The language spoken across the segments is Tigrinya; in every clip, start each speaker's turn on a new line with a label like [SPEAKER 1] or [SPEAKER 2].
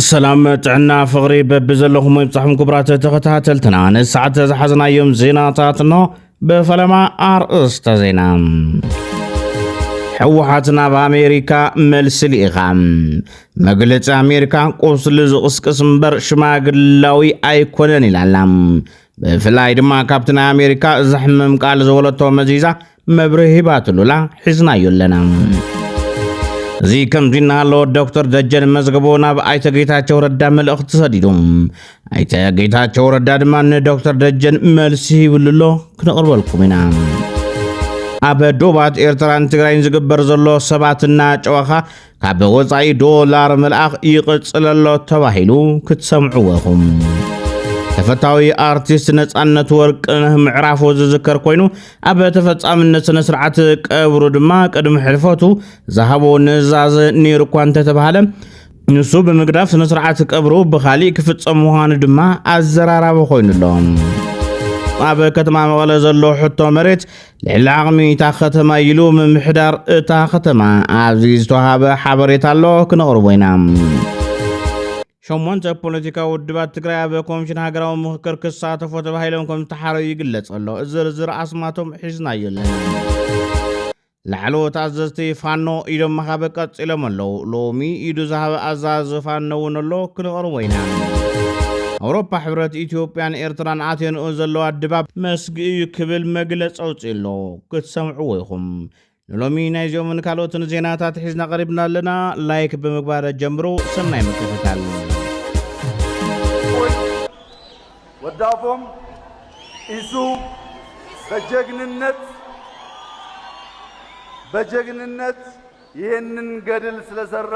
[SPEAKER 1] ሰላም ጥዕና ፍቕሪ በብዘለኹም ይብጻሕኩም ክቡራት ተኸታተልትና ንሰዓት ዝሓዝናዮም ዜናታት እኖ ብፈለማ ኣርእስተ ዜና ሕወሓት ናብ ኣሜሪካ መልሲ ልኢኻ መግለፂ ኣሜሪካ ቁስሊ ዝቕስቅስ እምበር ሽማግላዊ ኣይኮነን ኢላላ ብፍላይ ድማ ካብቲ ናይ ኣሜሪካ ዘሕምም ቃል ዝወለቶ መዚዛ መብርህ ሂባትሉላ ሒዝናዮ ኣለና እዚ ከምዚ እናሃሎ ዶክተር ደጀን መዝገቦ ናብ ኣይተ ጌታቸው ረዳ መልእኽቲ ሰዲዱ ኣይተ ጌታቸው ረዳ ድማ ንዶክተር ደጀን መልሲ ይብሉ ኣሎ ክንቕርበልኩም ኢና ኣብ ዶባት ኤርትራን ትግራይን ዝግበር ዘሎ ሰባትና ጨዋኻ ካብ ወጻኢ ዶላር ምልኣኽ ይቕጽለሎ ተባሂሉ ክትሰምዕዎ ኢኹም። ተፈታዊ ኣርቲስት ነፃነት ወርቅነህ ምዕራፉ ዝዝከር ኮይኑ ኣብ ተፈጻምነት ስነ ስርዓት ቀብሩ ድማ ቅድሚ ሕልፈቱ ዝሃቦ ንእዛዘ ነይሩ እኳ እንተተባሃለ ንሱ ብምግዳፍ ስነ ስርዓት ቀብሩ ብካሊእ ክፍፀም ምዃኑ ድማ ኣዘራራቢ ኮይኑ ኣሎ። ኣብ ከተማ መቐለ ዘሎ ሕቶ መሬት ልዕሊ ዓቕሚ እታ ከተማ ኢሉ ምምሕዳር እታ ከተማ ኣብዚ ዝተዋሃበ ሓበሬታ ኣሎ ክነቕርቦ ኢና። ሸሞንተ ፖለቲካዊ ውድባት ትግራይ ኣብ ኮሚሽን ሃገራዊ ምክክር ክሳተፎ ተባሂሎም ከም ዝተሓረዩ ይግለጽ ኣሎ ዝርዝር ኣስማቶም ሒዝናዮ ኣለና ላዕለዎት ኣዘዝቲ ፋኖ ኢዶም መኻበ ቀጺሎም ኣለዉ ሎሚ ኢዱ ዝሃበ ኣዛዝ ፋኖ እውን ኣሎ ክንቐርቦ ኢና ኣውሮፓ ሕብረት ኢትዮጵያን ኤርትራን ኣቴንኡ ዘለዋ ድባብ ሕጊ እዩ ክብል መግለፂ ኣውፂኡ ኣሎ። ክትሰምዕዎ ኢኹም። ንሎሚ ናይዚኦምን ካልኦትን ዜናታት ሒዝና ቀሪብና ኣለና። ላይክ ብምግባር ጀምሩ። ሰናይ ምክትታል።
[SPEAKER 2] ወዳፎም ኢሱ በጀግንነት በጀግንነት ይህንን ገድል ስለሰራ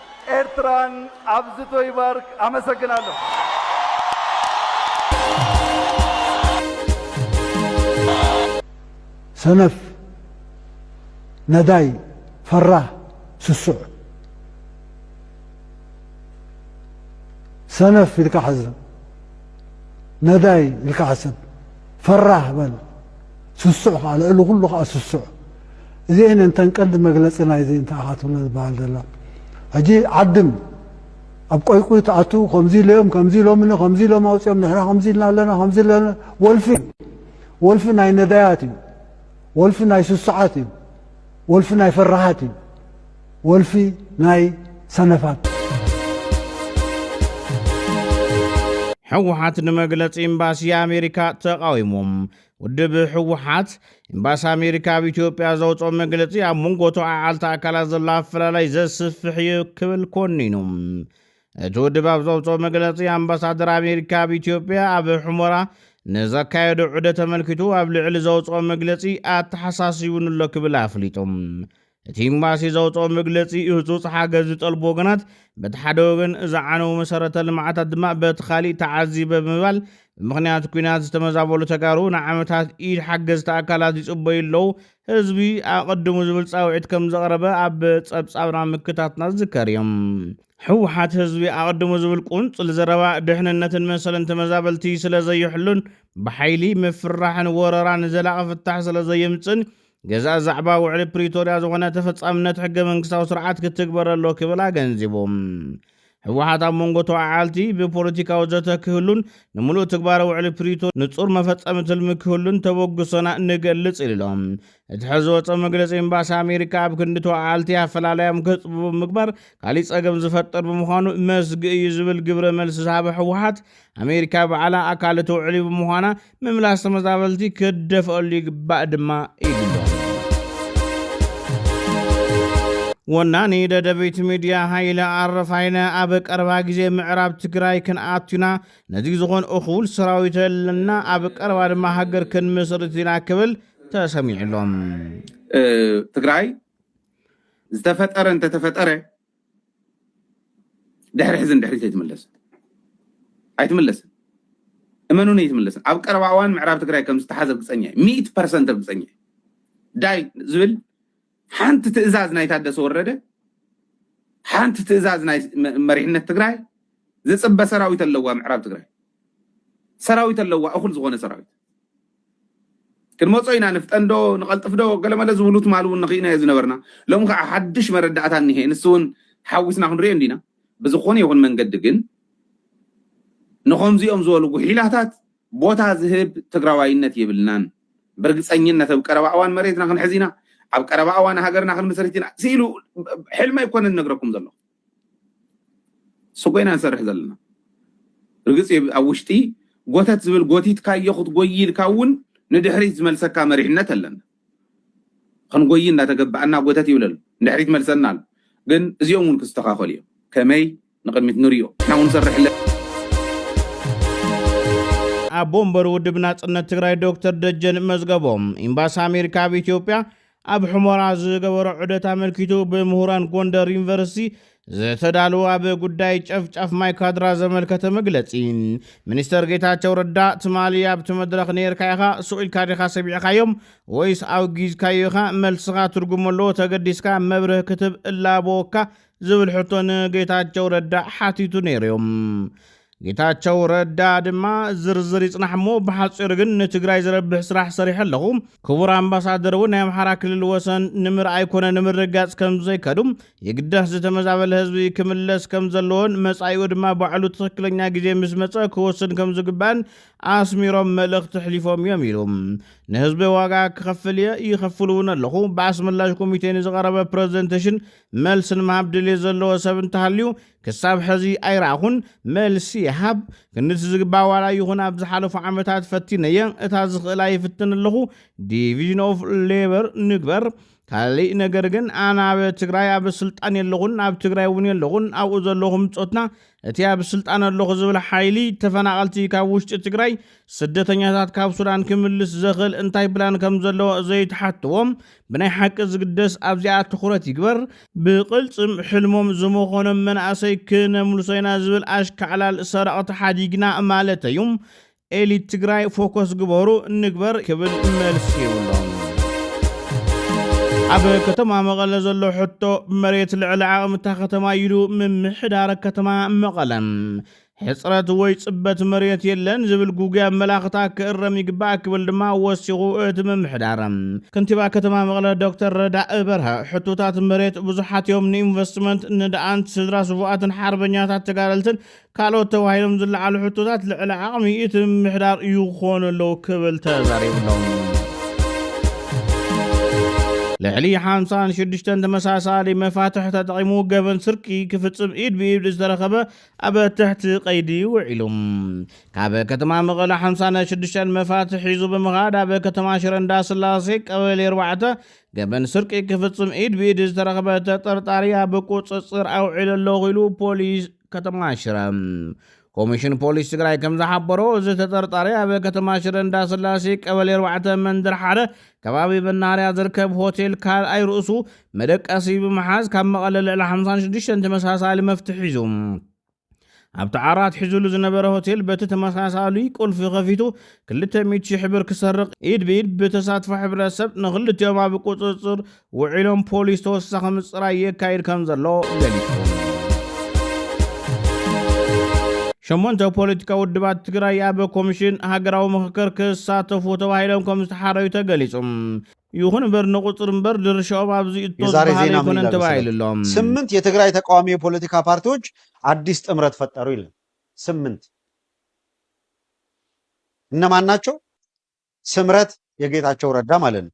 [SPEAKER 2] ኤርትራን ኣብዝቶ ይባርክ ኣመሰግናለሁ።
[SPEAKER 3] ሰነፍ ነዳይ ፈራህ ስሱዕ ሰነፍ ኢልካ ሓዝን ነዳይ ኢልካ ሓስብ ፈራህ በል ስሱዕ ከኣ ልዕሊ ኩሉ ከኣ ስሱዕ እዚኤን እየን እተን ቀንዲ መግለጺ ናይዚ እንታይ ኢኻ ትብሎ ዝበሃል ዘሎ ሕጂ ዓድም ኣብ ቆይቁይ ትኣቱ ከምዚ ኢሎም ከምዚ ኢሎምኒ ከምዚ ኢሎም ኣውጺኦም ንሕና ከምዚ ኢልና ኣለና ከምዚ ኣለና ወልፊ ወልፊ ናይ ነዳያት እዩ ወልፊ ናይ ስሱዓት እዩ ወልፊ ናይ ፈራሓት እዩ ወልፊ ናይ ሰነፋት
[SPEAKER 1] ሕወሓት ንመግለፂ ኤምባሲ ኣሜሪካ ተቓዊሞም ውድብ ህወሓት ኤምባሲ ኣሜሪካ ኣብ ኢትዮጵያ ዘውፅኦ መግለፂ ኣብ መንጎ ተወዓዓልቲ ኣካላት ዘሎ ኣፈላላይ ዘስፍሕ እዩ ክብል ኮኒኑ። እቲ ውድብ ኣብ ዘውፅኦ መግለፂ ኣምባሳደር ኣሜሪካ ኣብ ኢትዮጵያ ኣብ ሑመራ ንዘካየዶ ዑደ ተመልኪቱ ኣብ ልዕሊ ዘውፅኦ መግለፂ ኣተሓሳሲቡንሎ ክብል ኣፍሊጡ። እቲ ኤምባሲ ዘውፅኦ መግለፂ ህፁፅ ሓገዝ ዝጠልቡ ወገናት በቲ ሓደ ወገን ዝዓነዉ መሰረተ ልምዓታት ድማ በቲ ካሊእ ተዓዚበ ብምባል ብምኽንያት ኩናት ዝተመዛበሉ ተጋሩ ንዓመታት ኢድ ሓገዝቲ ኣካላት ይፅበዩ ኣለዉ ህዝቢ ኣቐድሙ ዝብል ፃውዒት ከም ዘቕረበ ኣብ ፀብፃብና ምክታትና ዝዝከር እዩ። ህወሓት ህዝቢ ኣቐድሙ ዝብል ቁንፅል ዘረባ ድሕንነትን መሰልን ተመዛበልቲ ስለዘይሕሉን ብሓይሊ ምፍርራሕን ወረራን ዘላቒ ፍታሕ ስለዘየምፅእን ገዛኢ ዛዕባ ውዕሊ ፕሪቶርያ ዝኾነ ተፈጻምነት ሕገ መንግስታዊ ስርዓት ክትግበረ ኣሎ ክብል ኣገንዚቡ። ህወሓት ኣብ መንጎ ተወዓዓልቲ ብፖለቲካዊ ዘተ ክህሉን ንምሉእ ትግባረ ውዕሊ ፕሪቶርያ ንጹር መፈጸሚ ትልሚ ክህሉን ተበግሶና ንገልጽ ኢሉ ኣሎ። እቲ ሕዚ ዝወጸ መግለጺ ኤምባሲ ኣሜሪካ ኣብ ክንዲ ተወዓዓልቲ ኣፈላላዮም ከጽብቡ ምግባር ካሊእ ጸገም ዝፈጥር ብምዃኑ መስግእ እዩ ዝብል ግብረ መልሲ ዝሃበ ህወሓት ኣሜሪካ ባዕላ ኣካል እቲ ውዕሊ ብምዃና ምምላስ ተመዛበልቲ ክደፍኣሉ ይግባእ ድማ ኢሉ። ወናኒ ደደቢት ሚድያ ሃይለ ኣረፋይነ ኣብ ቀረባ ግዜ ምዕራብ ትግራይ ክንኣቱና ነዚ ዝኾን እኹል ሰራዊት ኣለና ኣብ ቀረባ ድማ ሃገር ክንምስርት ኢና ክብል ተሰሚዑሎም
[SPEAKER 4] ትግራይ ዝተፈጠረ እንተተፈጠረ ድሕሪ ሕዚ ንድሕሪት ኣይትምለስን ኣይትምለስን እመኑን ኣይትምለስን ኣብ ቀረባ እዋን ምዕራብ ትግራይ ከም ዝተሓዘ ርግፀኛ እዩ ሚእቲ ፐርሰንት ርግፀኛ እዩ ዳይ ዝብል ሓንቲ ትእዛዝ ናይ ታደሰ ወረደ ሓንቲ ትእዛዝ ናይ መሪሕነት ትግራይ ዝፅበ ሰራዊት ኣለዋ ምዕራብ ትግራይ ሰራዊት ኣለዋ እኹል ዝኾነ ሰራዊት ክንመጾ ኢና ንፍጠን ዶ ንቐልጥፍ ዶ ገለመለ ዝብሉ ትማሊ እውን ንኺኢናዮ ዝነበርና ሎሚ ከኣ ሓድሽ መረዳእታ እኒሀ ንሱ እውን ሓዊስና ክንሪኦ እንዲና ብዝኾነ ይኹን መንገዲ ግን ንኸምዚኦም ዝበሉ ጉሒላታት ቦታ ዝህብ ትግራዋይነት የብልናን ብርግፀኝነት ኣብ ቀረባ እዋን መሬትና ክንሕዝ ኢና ኣብ ቀረባ እዋን ሃገርና ክንምስርት ኢና ስኢሉ ሕልሚ ኣይኮነን ነግረኩም ዘለኹ ስቆ ኢና ንሰርሕ ዘለና ርግጽ እየ ኣብ ውሽጢ ጎተት ዝብል ጎቲትካዮ ክትጎይ ኢልካ እውን ንድሕሪት ዝመልሰካ መሪሕነት ኣለና ክንጎይ እንዳተገበኣና ጎተት ይብል ኣሎ ንድሕሪት መልሰና ኣሎ ግን እዚኦም እውን ክስተኻኸሉ እዮም ከመይ ንቅድሚት ንሪኦ ንሕና እውን ንሰርሕ ኣለና።
[SPEAKER 1] ኣቦ ወንበር ውድብ ናጽነት ትግራይ ዶክተር ደጀን መዝገቦም፣ ኢምባሲ ኣሜሪካ ኣብ ኢትዮጵያ ኣብ ሑመራ ዝገበሮ ዑደት ኣመልኪቱ ብምሁራን ጎንደር ዩኒቨርሲቲ ዝተዳለወ ኣብ ጉዳይ ጨፍጫፍ ማይ ካድራ ዘመልከተ መግለጺ ሚኒስተር ጌታቸው ረዳ ትማሊ ኣብቲ መድረኽ ነይርካ ኢኻ ስቕ ኢልካ ዲኻ ሰሚዕኻዮም ወይስ ኣውጊዝካዮ ኢኻ መልስኻ ትርጉም ኣለዎ ተገዲስካ መብርህ ክትብ እላበወካ ዝብል ሕቶ ንጌታቸው ረዳ ሓቲቱ ነይሩ እዩ። ጌታቸው ረዳ ድማ ዝርዝር ይጽናሕ እሞ ብሓጺሩ ግን ንትግራይ ዝረብሕ ስራሕ ሰሪሐ ኣለኹ፣ ክቡር ኣምባሳደር እውን ናይ ኣምሓራ ክልል ወሰን ንምርኣይ ኮነ ንምርግጋጽ ከም ዘይከዱ፣ የግዳስ ዝተመዛበለ ህዝቢ ክምለስ ከም ዘለዎን መጻኢኡ ድማ ባዕሉ ትኽክለኛ ግዜ ምስ መጸ ክወስን ከም ዝግባእን ኣስሚሮም መልእኽቲ ኣሕሊፎም እዮም ኢሉ። ንህዝቢ ዋጋ ክኸፍል እየ፣ ይኸፍል እውን ኣለኹ፣ ብኣስመላሽ ኮሚቴ ንዝቐረበ ፕረዘንተሽን መልሲ ንምሃብ ድልየት ዘለዎ ሰብ እንተሃልዩ ክሳብ ሐዚ ኣይረኣኹን መልሲ ይሃብ ክንዲ እቲ ዝግባእ ዋላ ይኹን ኣብ ዝሓለፉ ዓመታት ፈቲነየ እታ ዝኽእላ ይፍትን ኣለኹ ዲቪዥን ኦፍ ሌበር ንግበር ካሊእ ነገር ግን ኣነ ኣብ ትግራይ ኣብ ስልጣን የለኹን ኣብ ትግራይ እውን የለኹን ኣብኡ ዘለኹ ምፆትና እቲ ኣብ ስልጣን ኣለኹ ዝብል ሓይሊ ተፈናቐልቲ ካብ ውሽጢ ትግራይ ስደተኛታት ካብ ሱዳን ክምልስ ዘኽእል እንታይ ፕላን ከም ዘለዎ ዘይተሓትዎ ብናይ ሓቂ ዝግደስ ኣብዚኣ ትኹረት ይግበር ብቕልፅም ሕልሞም ዝመኾኖም መናእሰይ ክነምልሶ ኢና ዝብል ኣሽካዕላል ሰረቕቲ ሓዲግና ማለተይ እዩ ኤሊት ትግራይ ፎኮስ ግበሩ ንግበር ክብል መልሲ ይብሎም። ኣብ ከተማ መቐለ ዘሎ ሕቶ መሬት ልዕሊ ዓቕምታ ከተማ ይሉ ምምሕዳረ ከተማ መቐለ ሕፅረት ወይ ፅበት መሬት የለን ዝብል ጉጉይ ኣመላኽታ ክእረም ይግባእ ክብል ድማ ወሲኹ እቲ ምምሕዳረ ከንቲባ ከተማ መቐለ ዶክተር ረዳእ በርሀ ሕቶታት መሬት ብዙሓት እዮም ንኢንቨስትመንት ንደኣንት ስድራ ስቡኣትን ሓርበኛታት ተጋደልትን ካልኦት ተባሂሎም ዝለዓሉ ሕቶታት ልዕሊ ዓቕሚ እቲ ምምሕዳር ይኾኑ ኣለዉ ክብል ተዛሪቡሎም። ልዕሊ ሓምሳን ሽዱሽተን ተመሳሳሊ መፋትሕ ተጠቒሙ ገበን ስርቂ ክፍጽም ኢድ ብኢድ ዝተረኸበ ኣብ ትሕቲ ቀይዲ ውዒሉ ካብ ከተማ መቐለ ሓምሳን ሽዱሽተን መፋትሕ ሒዙ ብምኻድ ኣብ ከተማ ሽረ እንዳስላሴ ቀበሌ ኣርባዕተ ገበን ስርቂ ክፍጽም ኢድ ብኢድ ዝተረኸበ ተጠርጣሪ ኣብ ቁጽጽር ኣውዒሉ ኣለኹ ኢሉ ፖሊስ ከተማ ሽረ ኮሚሽን ፖሊስ ትግራይ ከም ዝሓበሮ እዚ ተጠርጣሪ ኣብ ከተማ ሽረ እንዳስላሴ ቀበሌ ኣርባዕተ መንደር ሓደ ከባቢ መናኸርያ ዝርከብ ሆቴል ካልኣይ ርእሱ መደቀሲ ብምሓዝ ካብ መቐለ ልዕሊ 56 ተመሳሳሊ መፍትሒ ሒዙ ኣብቲ ዓራት ሒዙሉ ዝነበረ ሆቴል በቲ ተመሳሳሊ ቁልፊ ከፊቱ 200 ሽሕ ብር ክሰርቕ ኢድ ብኢድ ብተሳትፎ ሕብረተሰብ ንክልቲኦም ኣብ ቁፅፅር ውዒሎም ፖሊስ ተወሳኺ ምፅራይ የካይድ ከም ዘሎ ገሊፁ። ሸሞንተ ፖለቲካ ውድባት ትግራይ ኣብ ኮሚሽን ሃገራዊ ምኽክር ክሳተፉ ተባሂሎም ከም ዝተሓረዩ ተገሊፁ። ይኹን እምበር ንቁፅሪ እምበር ድርሻኦም ኣብዚ እቶ የዛሬ ዝበሃል ዜና ምን ኣይኮነን ይላል ተባሂሉ መሰለህ? ኣሎ። ስምንት የትግራይ
[SPEAKER 5] ተቃዋሚ የፖለቲካ ፓርቲዎች አዲስ ጥምረት ፈጠሩ ይላል። ስምንት እነማን ናቸው? ስምረት የጌታቸው ረዳ ማለት ነው።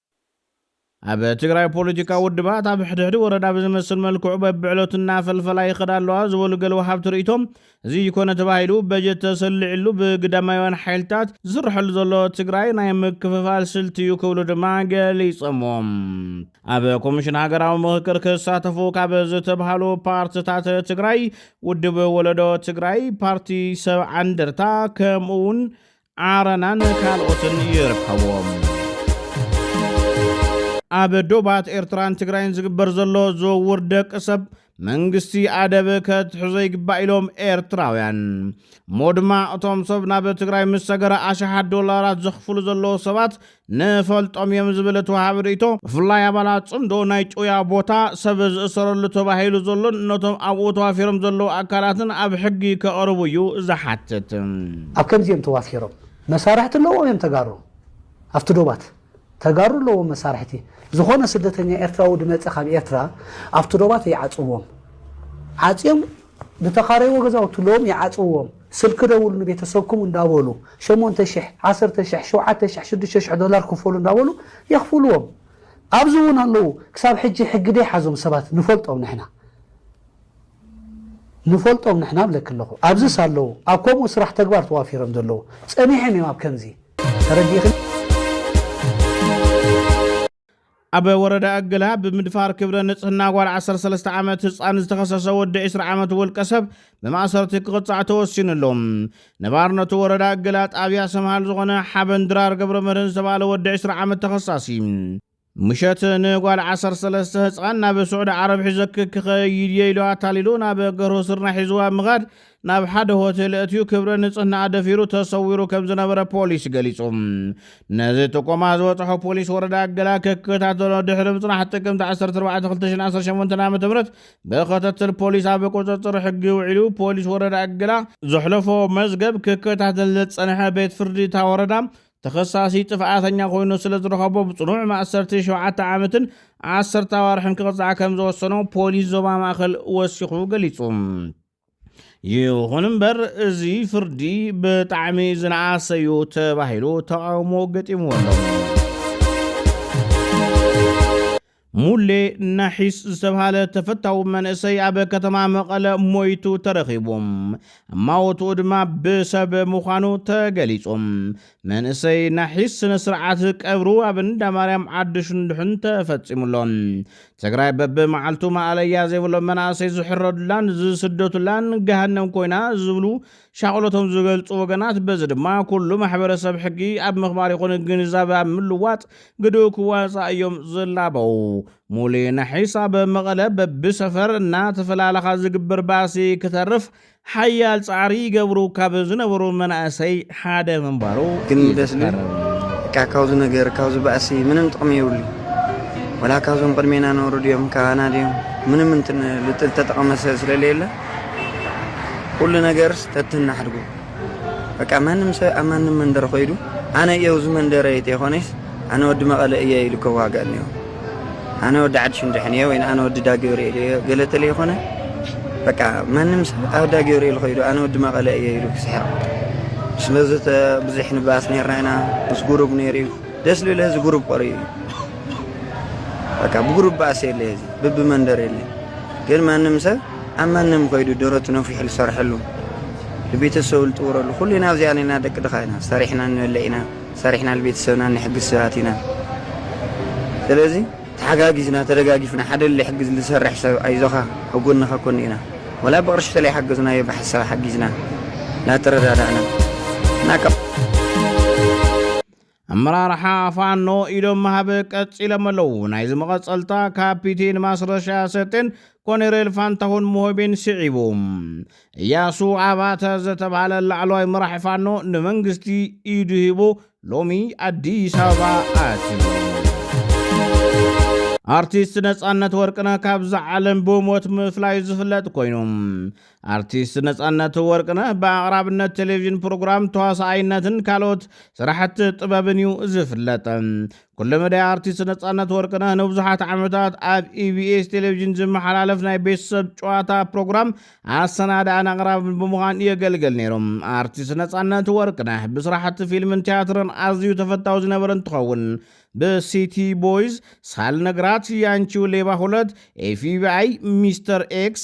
[SPEAKER 1] ኣብ ትግራይ ፖለቲካዊ ውድባት ኣብ ሕድሕድ ወረዳ ብዝመስል መልክዑ በብዕለቱ እናፈልፈላ ይኸዳ ኣለዋ ዝበሉ ገለ ወሃብቲ ርእይቶ፣ እዚ ኮነ ተባሂሉ በጀት ተሰሊዕሉ ብግዳማውያን ሓይልታት ዝስርሐሉ ዘሎ ትግራይ ናይ ምክፍፋል ስልቲ እዩ ክብሉ ድማ ገሊፆምዎ። ኣብ ኮሚሽን ሃገራዊ ምኽክር ክሳተፉ ካብ ዝተብሃሉ ፓርትታት ትግራይ ውድብ ወለዶ ትግራይ፣ ፓርቲ ሰብዓ እንደርታ ከምኡ እውን ዓረናን ካልኦትን ይርከብዎም። ኣብ ዶባት ኤርትራን ትግራይን ዝግበር ዘሎ ዝውውር ደቂ ሰብ መንግስቲ ኣደብ ከትሕዞ ይግባእ ኢሎም ኤርትራውያን እሞ ድማ እቶም ሰብ ናብ ትግራይ ምስ ሰገረ ኣሽሓት ዶላራት ዘኽፍሉ ዘለዉ ሰባት ንፈልጦም እዮም ዝብል እቲ ወሃቢ ርእይቶ፣ ብፍላይ ኣባላት ጽምዶ ናይ ጭውያ ቦታ፣ ሰብ ዝእሰረሉ ተባሂሉ ዘሎን ነቶም ኣብኡ ተዋፊሮም ዘለዉ ኣካላትን ኣብ ሕጊ ከቕርቡ እዩ ዝሓትት። ኣብ ከምዚ
[SPEAKER 6] እዮም ተዋፊሮም መሳርሕቲ ኣለዎም እዮም ተጋሩ ኣብቲ ዶባት ተጋሩ ኣለዎም መሳርሕቲ ዝኾነ ስደተኛ ኤርትራዊ ድመጸ ካብ ኤርትራ ኣብቲ ዶባት ይዓጽዎም ዓጽዮም ዝተኻረይዎ ገዛውቲ ሎሚ ይዓጽውዎም ስልኪ ደውሉ ንቤተሰብኩም እንዳበሉ ሸሞንተ ሽሕ ዓሰርተ ሽሕ ሸውዓተ ሽሕ ሽዱሽተ ሽሕ ዶላር ክፈሉ እንዳበሉ የኽፍልዎም ኣብዚ እውን ኣለው ክሳብ ሕጂ ሕጊ ደይሓዞም ሰባት ንፈልጦም ንሕና ንፈልጦም ንሕና ብለኪ ኣለኹ ኣብዝስ ኣለው ኣብ ከምኡ ስራሕ ተግባር ተዋፊሮም ዘለው ጸኒሕም እዮም ኣብ ከምዚ ተረዲእኽን
[SPEAKER 1] ኣብ ወረዳ እገላ ብምድፋር ክብረ ንፅህና ጓል ዓሰርተ ሰለስተ ዓመት ህፃን ዝተኸሰሰ ወዲ ዕስራ ዓመት ውልቀሰብ ብማእሰርቲ ክቕፃዕ ተወሲንሉ። ነባርነቱ ወረዳ እገላ ጣብያ ሰምሃል ዝኾነ ሓበን ድራር ገብረመድህን ዝተብሃለ ወዲ ዕስራ ዓመት ተኸሳሲ፣ ምሸት ንጓል ዓሰርተ ሰለስተ ህፃን ናብ ስዑዲ ዓረብ ሒዘኪ ክኸይድ እየ ኢሉ ኣታሊሉ ናብ ገርሁ ስርናይ ሒዝዋ ብምኻድ ናብ ሓደ ሆቴል ኣእትዩ ክብረ ንፅህናኣ ደፊሩ ተሰዊሩ ከም ዝነበረ ፖሊስ ገሊፁ። ነዚ ጥቆማ ዝበፅሖ ፖሊስ ወረዳ ገላ ክከታተሎ ድሕሪ ምፅናሕ ጥቅምቲ ዓሰርተ ኣርባዕተ ክልተ ሽሕን ዓሰርተ ሸሞንተን ዓመተ ምህረት ብክትትል ፖሊስ ኣብ ቁፅፅር ሕጊ ውዒሉ። ፖሊስ ወረዳ ገላ ዘሕለፎ መዝገብ ክከታተል ዝፀንሐ ቤት ፍርዲ እታ ወረዳ ተኸሳሲ ጥፍኣተኛ ኮይኑ ስለ ዝረኸቦ ብፅኑዕ ማእሰርቲ ሸውዓተ ዓመትን ዓሰርተ ኣዋርሕን ክቕፃዕ ከም ዝወሰኖ ፖሊስ ዞባ ማእኸል ወሲኹ ገሊፁ። ይኹን እምበር እዚ ፍርዲ ብጣዕሚ ዝነኣሰ እዩ ተባሂሉ ተቓውሞ ገጢምዎ ኣሎ። ሙሌ ናሒስ ዝተብሃለ ተፈታዊ መንእሰይ ኣብ ከተማ መቐለ ሞይቱ ተረኺቡ እማወትኡ ድማ ብሰብ ምዃኑ ተገሊጹ። መንእሰይ ናሒስ ስነ ስርዓት ቀብሩ ኣብ እንዳ ማርያም ዓዲ ሽንዱሕን ተፈጺሙ ኣሎ። ትግራይ በቢ መዓልቱ ማእለያ ዘይብሎም መናእሰይ ዝሕረዱላን ዝስደቱላን ገሃነም ኮይና ዝብሉ ሻቕሎቶም ዝገልጹ ወገናት በዚ ድማ ኩሉ ማሕበረሰብ ሕጊ ኣብ ምኽባር ይኹን ግንዛበ ኣብ ምልዋጥ ግድኡ ክዋፃእ እዮም ዝላበው። ሙሌ ናሒስ ኣብ መቐለ በቢ ሰፈር እናተፈላለኻ ዝግበር ባእሲ ክተርፍ ሓያል ጻዕሪ ይገብሩ ካብ ዝነበሩ መናእሰይ ሓደ ምንባሩ ይዝከር።
[SPEAKER 7] እካ ካብዚ ነገር ካብዚ ባእሲ ምንም ጥቅሚ የብሉ ወላ ካብዞም ቅድሜና ነሩ ድዮም ካባና ድዮም ምንም እንትን ልጥል ተጠቀመ ስለለየለ ኩሉ ነገር ተትናሕድጉ በቃ ማንም ሰብ ኣብ ማንም መንደር ኮይዱ ኣነ እየው እዚ መንደረ ተይኮነስ ኣነ ወዲ መቐለ እየ ኢሉ ከዋጋእ እኒኦ ኣነ ወዲ ዓዲ ሽንድሕን እየ ወይ ኣነ ወዲ ዳገብርኤል እየ ገለ ተለይኮነ በቃ ማንም ሰብ ኣብ ዳገብርኤል ከይዱ ኣነ ወዲ መቐለ እየ ኢሉ ክስሕቕ ስለዚ ብዙሕ ንባስ ነርና ኢና ምስ ጉሩብ ነይሩ እዩ ደስ ልብል ህዚ ጉሩብ ቆሪኡ እዩ በቃ ብጉሩብ ባእሲ የለ ህዚ ብቢ መንደር የለ ግን ማንም ሰብ ኣብ ማንም ከይዱ ደረቱ ነፊሑ ዝሰርሐሉ ንቤተሰቡ ዝጥውረሉ ኩሉና ኣብዚኣ ነና ደቂ ድኻ ኢና ሰሪሕና ንበልዕ ኢና ሰሪሕና ንቤተሰብና እንሕግዝ ሰባት ኢና ስለዚ ተሓጋጊዝና ተደጋጊፍና ሓደ ልሕግዝ ልሰርሕ ሰብ ኣይዞኻ ኣብ ጎንኻ ኮን ኢና ወላ ብቅርሺ ተለይሓገዝናዮ ብሓሳብ ሓጊዝና ላተረዳዳእና እና ካብ ኣመራርሓ
[SPEAKER 1] ፋኖ ኢዶም ምሃብ ቀፂሎም ኣለዉ። ናይዚ መቐፀልታ ካፒቴን ማስረሻ ሰጤን ኮኔሬል ፋንታሁን ሞሆቤን ስዒቡ እያሱ ኣባተ ዝተብሃለ ላዕለዋይ መራሒ ፋኖ ንመንግስቲ ኢዱ ሂቡ ሎሚ ኣዲስ ኣበባ ኣትዩ። ኣርቲስት ነፃነት ወርቅነህ ካብዛ ዓለም ብሞት ምፍላዩ ዝፍለጥ ኮይኑ ኣርቲስት ነፃነት ወርቅነህ ብኣቕራብነት ቴሌቭዥን ፕሮግራም ተዋሳኣይነትን ካልኦት ስራሕቲ ጥበብን እዩ ዝፍለጥ። ኩለመዳይ ኣርቲስት ነጻነት ወርቅነህ ንብዙሓት ዓመታት ኣብ ኢቢኤስ ቴሌቪዥን ዝመሓላለፍ ናይ ቤተሰብ ጨዋታ ፕሮግራም ኣሰናዳእን ኣቕራብን ብምዃን የገልገል ነይሩ። ኣርቲስት ነጻነት ወርቅነህ ብስራሕቲ ፊልምን ትያትርን ኣዝዩ ተፈታዊ ዝነበረ እንትኸውን ብሲቲ ቦይዝ፣ ሳልነግራት፣ ያንቺው ሌባ ሁለት፣ ኤፍቢኣይ፣ ሚስተር ኤክስ፣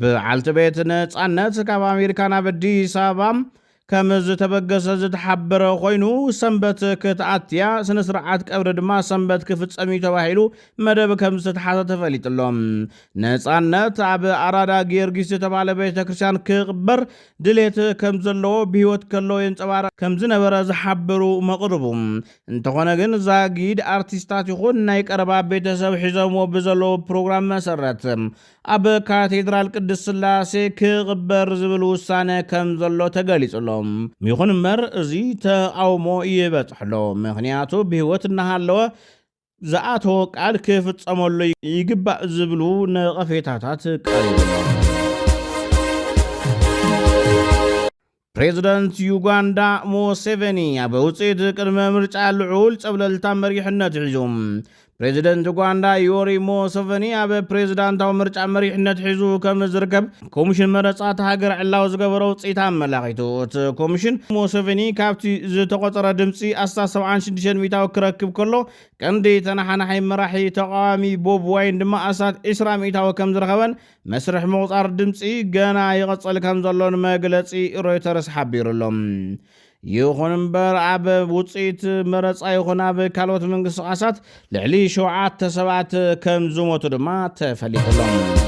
[SPEAKER 1] ብዓልቲ ቤት ነጻነት ካብ ኣሜሪካ ናብ ኣዲስ ኣበባ ከም ዝተበገሰ ዝተሓበረ ኮይኑ ሰንበት ክትኣትያ ስነ ስርዓት ቀብሪ ድማ ሰንበት ክፍጸም እዩ ተባሂሉ መደብ ከም ዝተተሓዘ ተፈሊጡ ኣሎ። ነጻነት ኣብ ኣራዳ ጊዮርጊስ ዝተባህለ ቤተ ክርስቲያን ክቕበር ድሌት ከም ዘለዎ ብህይወት ከሎ የንጸባርቕ ከም ዝነበረ ዝሓበሩ መቕርቡ እንተኾነ ግን ዛጊድ ኣርቲስታት ይኹን ናይ ቀረባ ቤተሰብ ሒዘምዎ ብዘለዉ ፕሮግራም መሰረት ኣብ ካቴድራል ቅድስት ስላሴ ክቕበር ዝብል ውሳነ ከም ዘሎ ተገሊጹ ኣሎ። ይኹን እምበር እዚ ተቓውሞ ይበጽሖ ኣሎ፣ ምኽንያቱ ብህይወት እናሃለወ ዝኣተዎ ቃል ክፍጸመሉ ይግባእ ዝብሉ ነቐፌታታት ቀሪቡ ኣሎ። ፕሬዝደንት ዩጋንዳ ሙሴቬኒ ኣብ ውፅኢት ቅድመ ምርጫ ልዑል ፀብለልታ መሪሕነት ሒዙ። ፕሬዝደንት ዩጋንዳ ዮሪ ሙሴቬኒ ኣብ ፕሬዝዳንታዊ ምርጫ መሪሕነት ሒዙ ከም ዝርከብ ኮሚሽን መረፃ እታ ሃገር ዕላዊ ዝገበሮ ውፅኢት ኣመላኺቱ። እቲ ኮሚሽን ሙሴቬኒ ካብቲ ዝተቖፀረ ድምፂ ኣስታት ሰብዓን ሽዱሽተን ሚእታዊ ክረክብ ከሎ ቀንዲ ተነሓናሒ መራሒ ተቓዋሚ ቦብ ዋይን ድማ ኣስታት ዕስራ ሚእታዊ ከም ዝረኸበን መስርሕ ምቑጻር ድምጺ ገና ይቕጽል ከም ዘሎን መግለጺ ሮይተርስ ሓቢሩ ኣሎ። ይኹን እምበር ኣብ ውጽኢት መረጻ ይኹን ኣብ ካልኦት ምንቅስቓሳት ልዕሊ ሸውዓተ ሰባት ከም ዝሞቱ ድማ ተፈሊጡ ኣሎ።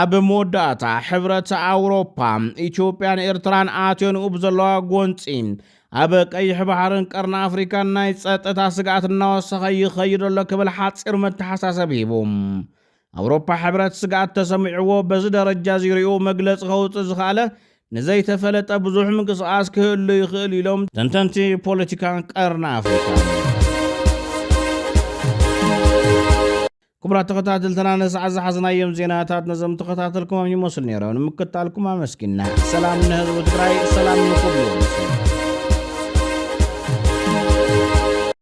[SPEAKER 1] ኣብ መወዳእታ ሕብረት ኣውሮፓ ኢትዮጵያን ኤርትራን ኣትዮንኡ ብዘለዋ ጎንፂ ኣብ ቀይሕ ባሕርን ቀርኒ ኣፍሪካን ናይ ፀጥታ ስግኣት እናወሰኸ ይኸይድ ኣሎ ክብል ሓፂር መተሓሳሰብ ሂቡ። ኣውሮፓ ሕብረት ስግኣት ተሰሚዕዎ በዚ ደረጃ ዚሪኡ መግለፂ ከውፅእ ዝኸኣለ ንዘይተፈለጠ ብዙሕ ምንቅስቓስ ክህሉ ይኽእል ኢሎም ተንተንቲ ፖለቲካ ቀርኒ ኣፍሪካ። ክቡራት ተኸታተልትና ንሰዓት ዝሓዝናዮም ዜናታት ነዘም ተኸታተልኩሞም ይመስሉ ነይሮም ንምክታልኩም ኣመስኪና ሰላም ንህዝቢ ትግራይ ሰላም ንኹሉ